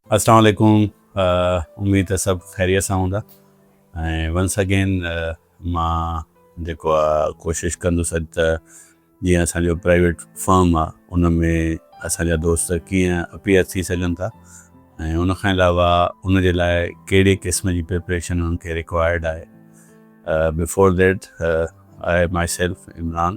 اسلام عليڪم اميد ته سڀ خيريت سان هوندا ۽ ونس اگين مان جيڪو آ ڪوشش ڪندس اڄ ته جيئن اسان جو پرائيويٽ فرم آ ان ۾ اسان جا دوست ڪيئن اپيئر ٿي سگهن ٿا ۽ ان کان علاوه ان جي لاء ڪهڙي قسم جي پريپريشن انهن کي رڪوائرڊ آهي before that I myself Imran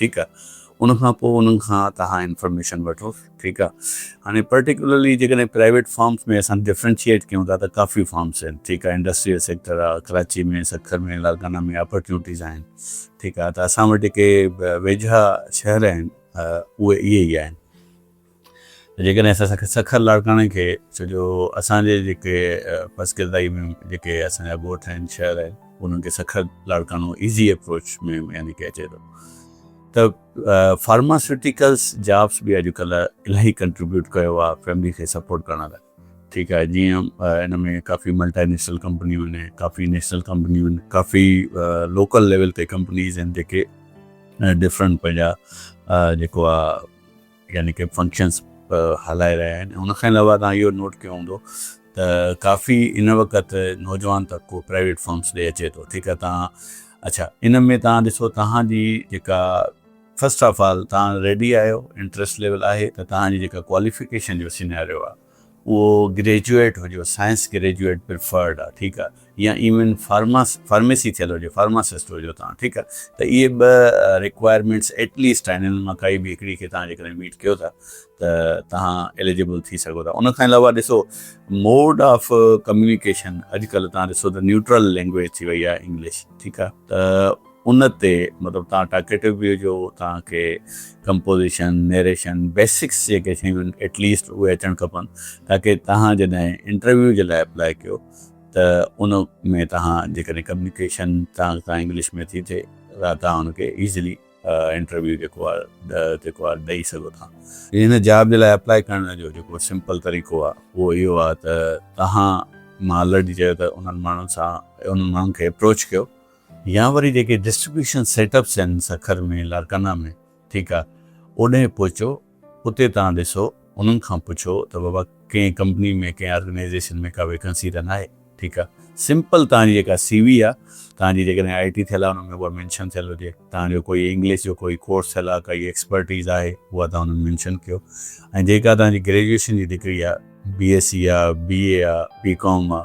ٺيڪ آ ان کان پوء انهن کان توهان انفارميشن وٺو ٺيڪ آ هاڻي پرٽيڪولرلي جيڪڏهن پرائيويٽ فارمز ۾ اسان ڊفرينشيئيٽ ڪيون ٿا ته ڪافي فارمز آهن ٺيڪ آ انڊسٽريل سيڪٽر آ ڪراچي ۾ سکر ۾ لاڙڪانا ۾ اپرچونٽيز آهن ٺيڪ آ ته اسان وٽ جيڪي ويجها شهر آهن اهي اهي ئي آهن. جيڪڏهن اسان سکر لاڙڪاڻي کي ڇو جو اسان جي جيڪي پس ڪردائي ۾ جيڪي اسان جا ڳوٺ آهن شهر آهن انهن کي سکر لاڙڪاڻو ايزي اپروچ ۾ يعني ڪي اچي ٿو ته فارماسيوٽيڪلس جابس به اڄ ڪلهه الاهي ڪنٽريبيوٽ ڪيو آهي فيملي کي سپورٽ ڪرڻ لاء ٺيڪ آهي جيئن ان ۾ ڪافي ملٽائي نيشنل ڪمپنيون آهن ڪافي نيشنل ڪمپنيون آهن ڪافي لوڪل ليول تي ڪمپنيز آهن جيڪي ڊفرنٽ پنهنجا جيڪو آهي يعني ڪي فنڪشنس هلائي رهيا آهن ۽ ان کان علاوه توهان اهو نوٽ ڪيو هوندو ته ڪافي ان وقت نوجوان طبقو پرائيويٽ فرمس ڏي اچي ٿو ٺيڪ آهي توهان اڇا ان ۾ توهان ڏسو توهان جي جيڪا فرسٽ آف آل توهان ريڊي آهيو انٽرسٽ ليول آهي ته توهان جي جيڪا ڪواليفڪيشن جو سيناريو آهي اهو گريجوئيٽ هجيو، سائنس گريجوئيٽ پريفرڊ آ، ٺيڪ آ، يا ايون فارماس فارميسي ٿيل هجي، فارماسسٽ هجو توهان، ٺيڪ آ، ته اهي ٻه ريڪوائرمينٽس ايٽ ليسٽ آهن، انهن مان ڪائي به هڪڙي کي توهان جيڪڏهن ميٽ ڪيو ٿا ته توهان ايليجبل ٿي سگهو ٿا. ان کان علاوه ڏسو موڊ آف ڪميونيڪيشن اڄ ڪلهه توهان ڏسو ته نيوٽرل لينگويج ٿي وئي آ انگلش، ٺيڪ آ، ته ان تي مطلب تان ٽاڪيٽو به هجو تان کي ڪمپوزيشن نيريشن بيسڪس جيڪي شيون آهن ايٽ ليسٽ اهي اچڻ کپن تاڪي تهان جڏهن انٽرويو جي لاء اپلاء ڪيو ته ان ۾ تهان جيڪڏهن ڪميونيڪيشن تان تان انگلش ۾ ٿي ٿئي ته تان ان کي ايزلي انٽرويو جيڪو آهي جيڪو آهي ڏئي سگهو ٿا. ان جاب جي لاء اپلاء ڪرڻ جو جيڪو سمپل طريقو آهي اهو اهو آهي ته تهان مان آلريڊي چيو ته انهن ماڻهن سان انهن ماڻهن کي اپروچ ڪيو يا وري جيڪي ڊسٽريبيوشن سيٽ اپس آهن سکر ۾ لاڙڪانا ۾ ٺيڪ آ اوڏهين پهچو اتي توهان ڏسو انهن کان پڇو ته بابا ڪنهن ڪمپني ۾ ڪنهن آرگنائيزيشن ۾ ڪا ويڪنسي ته ناهي ٺيڪ آ سمپل توهان جي جيڪا سي وي آ توهان جي جيڪڏهن آئي ٽي ٿيل آ ان ۾ اها مينشن ٿيل هجي توهان جو ڪوئي انگلش جو ڪوئي ڪورس ٿيل آ ڪائي ايڪسپرٽيز آهي اها توهان انهن مينشن ڪيو ۽ جيڪا توهان جي گريجوئيشن جي ڊگري آ بي ايس سي آ بي اي آ بي ڪام آ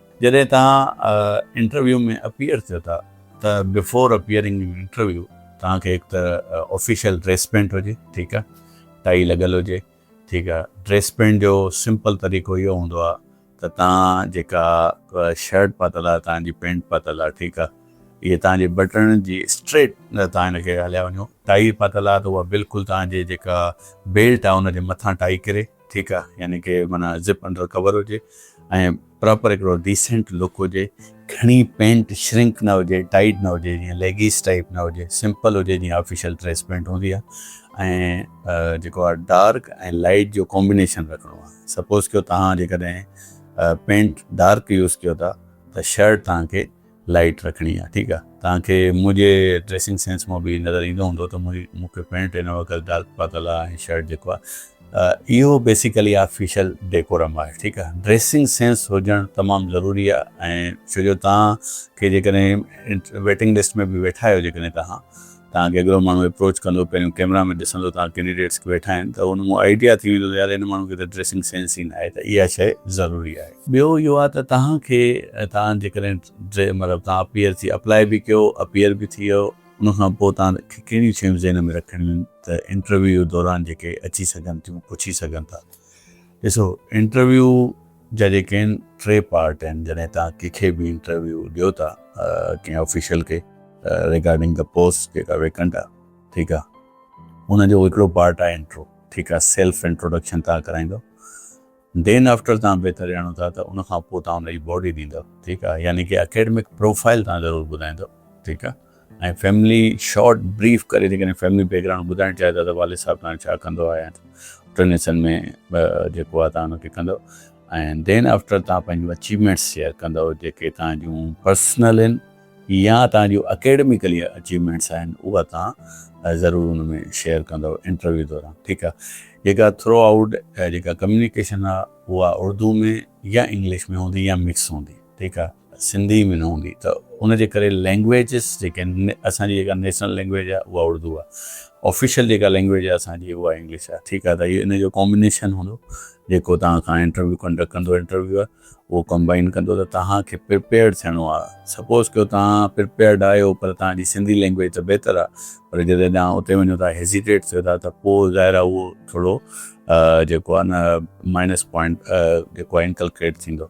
جڏهن توهان انٽرويو ۾ اپيئر ٿيو ٿا ته بفور اپيئرنگ ان انٽرويو توهان کي هڪ ته آفيشل ڊريس پينٽ هجي ٺيڪ آ ٽائي لڳل هجي ٺيڪ آ ڊريس پينٽ جو سمپل طريقو اهو هوندو آ ته توهان جيڪا شرٽ پاتل آ توهان جي پينٽ پاتل آ ٺيڪ آ اهي توهان جي بٽڻن جي اسٽريٽ توهان ان کي هليا وڃو ٽائي پاتل آ ته اها بلڪل توهان جي جيڪا بيلٽ آ ان جي مٿان ٽائي ڪري ٺيڪ آ يعني ڪي معنيٰ زپ انڊر ڪور هجي ۽ پراپر هڪڙو ڊيسنٽ لڪ هجي گهڻي پينٽ شرنڪ نه هجي ٽائيٽ نه هجي جيئن ليگيس ٽائيپ نه هجي سمپل هجي جيئن آفيشل ڊريس پينٽ هوندي آ ۽ جيڪو آ ڊارڪ ۽ لائيٽ جو ڪومبينيشن رکڻو آ سپوز ڪيو توهان جيڪڏهن پينٽ ڊارڪ يوز ڪيو ٿا ته شرٽ توهان کي لائٽ رکڻي آ ٺيڪ آ. توهان کي منهنجي ڊريسنگ سينس مان به نظر ايندو هوندو ته مون کي پينٽ هن وقت ڊارڪ پاتل آ ۽ شرٽ جيڪو آ اهو بيسيڪلي آفيشل ڊيڪورم آهي ٺيڪ آ. ڊريسنگ سينس هجڻ تمام ضروري آ ۽ ڇو جو توهان کي جيڪڏهن ويٽنگ لسٽ ۾ به ويٺا آهيو جيڪڏهن توهان توهان کي هڪڙو ماڻهو اپروچ ڪندو پهريون ڪيمرا ۾ ڏسندو توهان ڪينڊيڊيٽس ڪي ويٺا آهن ته ان مون آئيڊيا ٿي ويندو ته يار هن ماڻهو کي ته ڊريسنگ سينس ئي ناهي ته اها شئي ضروري آهي. ٻيو اهو آهي ته توهان کي توهان جيڪڏهن ڊري مطلب توهان اپيئر ٿي اپلائي به ڪيو اپيئر به ٿي ويو ان کان پوء توهان کي ڪهڙيون شيون ذهن ۾ رکڻيون آهن ته انٽرويو دوران جيڪي اچي سگهن ٿيون پڇي سگهن ٿا ڏسو انٽرويو جا جيڪي آهن ٽي پارٽ آهن جڏهن توهان ڪنهن کي به انٽرويو ڏيو ٿا ڪنهن آفيشل کي ريگارڊنگ دا پوسٽ جيڪا ويڪنٽ آهي ٺيڪ آهي ان جو هڪڙو پارٽ آهي انٽرو ٺيڪ آهي سيلف انٽروڊڪشن توهان ڪرائيندو دين آفٽر توهان بهتر ڄاڻو ٿا ته ان کان پوء توهان ان جي باڊي ڏيندو ٺيڪ آهي يعني ڪي اڪيڊمڪ پروفائل توهان ضرور ٻڌائيندو ٺيڪ آهي. ۽ فيملي شارٽ بريف ڪري جي ڪڏهن فيملي بيڪ گرائونڊ ٻڌائڻ چاهي ٿا ته والد صاحب تهان جو ڇا ڪندو آهي ۽ ٽن حصن ۾ جيڪو آهي تهان ان کي ڪندو ۽ دين آفٽر تهان پنهنجون اچيومينٽس شيئر ڪندو جيڪي تهان جون پرسنل آهن يا تهان جون اڪيڊميڪلي اچيومينٽس آهن اها تهان ضرور ان ۾ شيئر ڪندو انٽرويو دوران ٺيڪ آهي جيڪا ٿرو آئوٽ جيڪا ڪميونيڪيشن آهي اها اردو ۾ يا انگلش ۾ هوندي يا مڪس هوندي ٺيڪ آهي. سنڌي ۾ نه هوندي ته ان جي ڪري لينگويجز جيڪي آهن اسان جي جيڪا نيشنل لينگويج آهي اها اڙدو آهي آفيشل جيڪا لينگويج آهي اسان جي اها انگلش آهي ٺيڪ آهي ته اهو ان جو ڪامبينيشن هوندو جيڪو توهان کان انٽرويو ڪنڊڪٽ ڪندو انٽرويور اهو ڪمبائين ڪندو ته توهان کي پرپيئرڊ ٿيڻو آهي سپوز ڪيو توهان پرپيئرڊ آهيو پر توهان جي سنڌي لينگويج ته بهتر آهي پر جڏهن توهان اتي وڃو ٿا هيزيٽيٽ ٿيو ٿا ته پوء ظاهر آهي اهو ٿورو جيڪو آهي نه مائنس پوائنٽ جيڪو آهي انڪلڪيٽ ٿيندو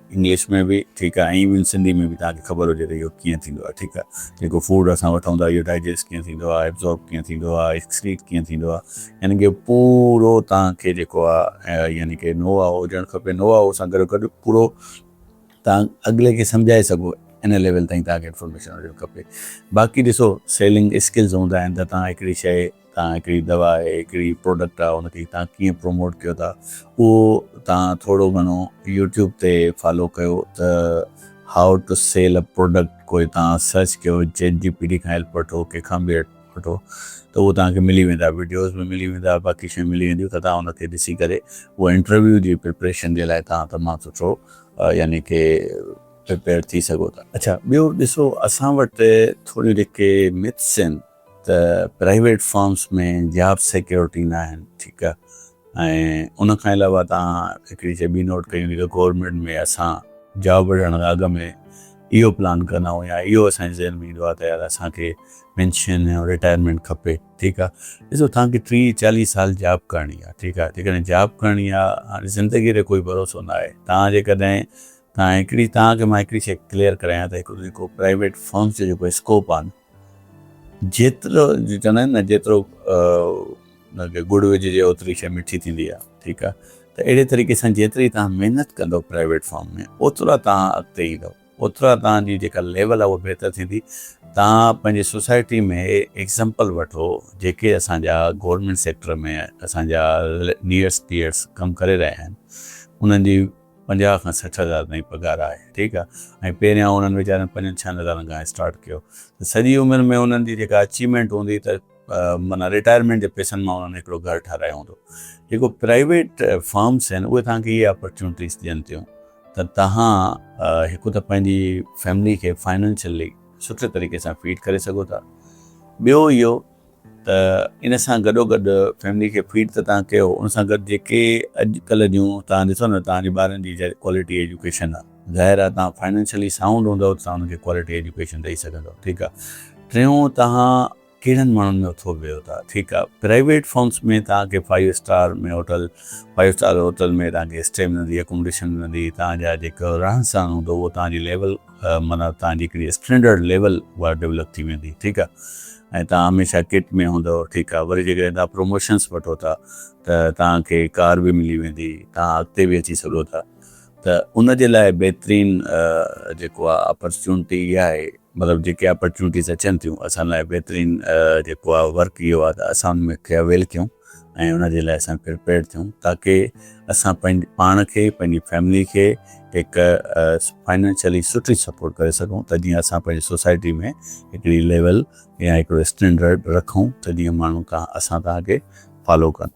انگلش ۾ به ٺيڪ آهي ائين به سنڌي ۾ به توهان کي خبر هجي ته اهو ڪيئن ٿيندو آهي ٺيڪ آهي جيڪو فوڊ اسان وٺون ٿا اهو ڊائجسٽ ڪيئن ٿيندو آهي ابزورب ڪيئن ٿيندو آهي ايڪسڪريٽ ڪيئن ٿيندو آهي يعني ڪي پورو توهان کي جيڪو آهي يعني ڪي نو هاء هجڻ کپي نو هاء سان گڏو گڏ پورو توهان اڳلي کي سمجهائي سگهو ان ليول تائين توهان کي انفارميشن هجڻ کپي باقي ڏسو سيلنگ اسڪلز هوندا آهن ته توهان هڪڙي شئي تان هڪڙي دوا آهي هڪڙي پروڊڪٽ آهي ان کي تان ڪيئن پروموٽ ڪيو ٿا اهو تان ٿورو گهڻو يوٽيوب تي فالو ڪيو ته how to sell a product ڪوئي تان سرچ ڪيو چيٽ جي پي ٽي کان هيلپ وٺو ڪنهن کان به هيلپ وٺو ته اهو تان کي ملي ويندا وڊيوز به ملي ويندا باقي شيون ملي وينديون ته تان ان کي ڏسي ڪري اهو انٽرويو جي پريپريشن جي لاء تان تمام سٺو يعني ڪي پريپيئر ٿي سگهو ٿا. اڇا ٻيو ڏسو اسان وٽ ٿوريون جيڪي مٿس آهن. ته پرائيويٽ فرمز ۾ جاب سيڪيورٽي نه آهن ٺيڪ آهي ۽ ان کان علاوه تان هڪڙي شي ٻي نوٽ ڪيون جيڪا گورنمينٽ ۾ اسان جاب وٺڻ کان اڳ ۾ اهو پلان ڪندا آهيون يا اهو اسان جي ذهن ۾ ايندو آهي ته يار اسان کي پينشن يا رٽائرمينٽ کپي ٺيڪ آهي ڏسو تان کي ٽيهه چاليهه سال جاب ڪرڻي آهي ٺيڪ آهي جيڪڏهن جاب ڪرڻي آهي هاڻي زندگي تي ڪوئي ڀروسو نه آهي تان جيڪڏهن تان هڪڙي تان کي مان هڪڙي شي ڪليئر ڪرايان ته هڪڙو جيڪو پرائيويٽ فرمز جو جيڪو اسڪوپ آهي نه جيترو چوندا آهن نه جيترو ان کي ڳڙ وجهجي اوتري شي مٺي ٿيندي آهي ٺيڪ آهي ته اهڙي طريقي سان جيتري توهان محنت ڪندو پرائيويٽ فارم ۾ اوترا توهان اڳتي ايندو اوترا توهان جي جيڪا ليول آهي اها بهتر ٿيندي توهان پنهنجي سوسائٽي ۾ ايگزامپل وٺو جيڪي اسان جا گورنمينٽ سيڪٽر ۾ اسان جا نيئرس پيئرس ڪم ڪري رهيا آهن انهن جي پنجاهه کان سٺ هزار تائين پگهار آهي ٺيڪ آهي ۽ پهريان انهن ويچارن پنجن ڇهن هزارن کان اسٽارٽ ڪيو ته سڄي عمر ۾ انهن جي جيڪا اچيومينٽ هوندي ته معنيٰ رٽائرمينٽ جي پئسن مان انهن هڪڙو گهر ٺهرايو هوندو جيڪو پرائيويٽ فرمز آهن اهي توهان کي اهي اپرچونٽيز ڏين ٿيون ته توهان هڪ ته پنهنجي فيملي کي فائنينشلي سٺي طريقي سان فيڊ ڪري سگهو ٿا ٻيو اهو ته ان سان گڏوگڏ فيملي کي فيڊ ته توهان ڪيو ان سان گڏ جيڪي اڄ ڪلهه جون توهان ڏسو نه توهان جي ٻارن جي ڪوالٽي ايجوڪيشن آ ظاهر آ توهان فائنينشلي سائونڊ هوندؤ ته توهان انهن کي ڪوالٽي ايجوڪيشن ڏئي سگهندؤ ٺيڪ آ ٽيون توهان ڪهڙن ماڻهن ۾ اٿو ويهو ٿا ٺيڪ آ پرائيويٽ فرمس ۾ توهان کي five star ۾ hotel five star hotel ۾ توهان کي اسٽي ملندي اڪوموڊيشن ملندي توهان جا جيڪو رهن سهن هوندو اهو توهان جي ليول معنيٰ توهان جي هڪڙي اسٽينڊرڊ ليول اها ڊولپ ٿي ويندي ٺيڪ آهي ۽ توهان هميشه ڪٽ ۾ هوندو ٺيڪ آهي وري جيڪڏهن توهان پروموشنس وٺو ٿا ته توهان کي ڪار به ملي ويندي توهان اڳتي به اچي سگهو ٿا ته ان جي لاء بهترين جيڪو آهي اپرچونٽي اها آهي مطلب جيڪي اپرچونٽيز اچن ٿيون اسان لاء بهترين جيڪو آهي ورڪ اهو آهي ته اسان ان کي اويل ڪيون ۽ ان جي لاء اسان پرپيئرڊ ٿيون تاڪي اسان پنهنجي پاڻ کي پنهنجي فيملي کي هڪ فائنينشلي سٺي سپورٽ ڪري سگهون ته جيئن اسان پنهنجي سوسائٽي ۾ هڪڙي ليول يا هڪڙو اسٽينڊرڊ رکون ته جيئن ماڻهو اسان تان اڳي فالو ڪن.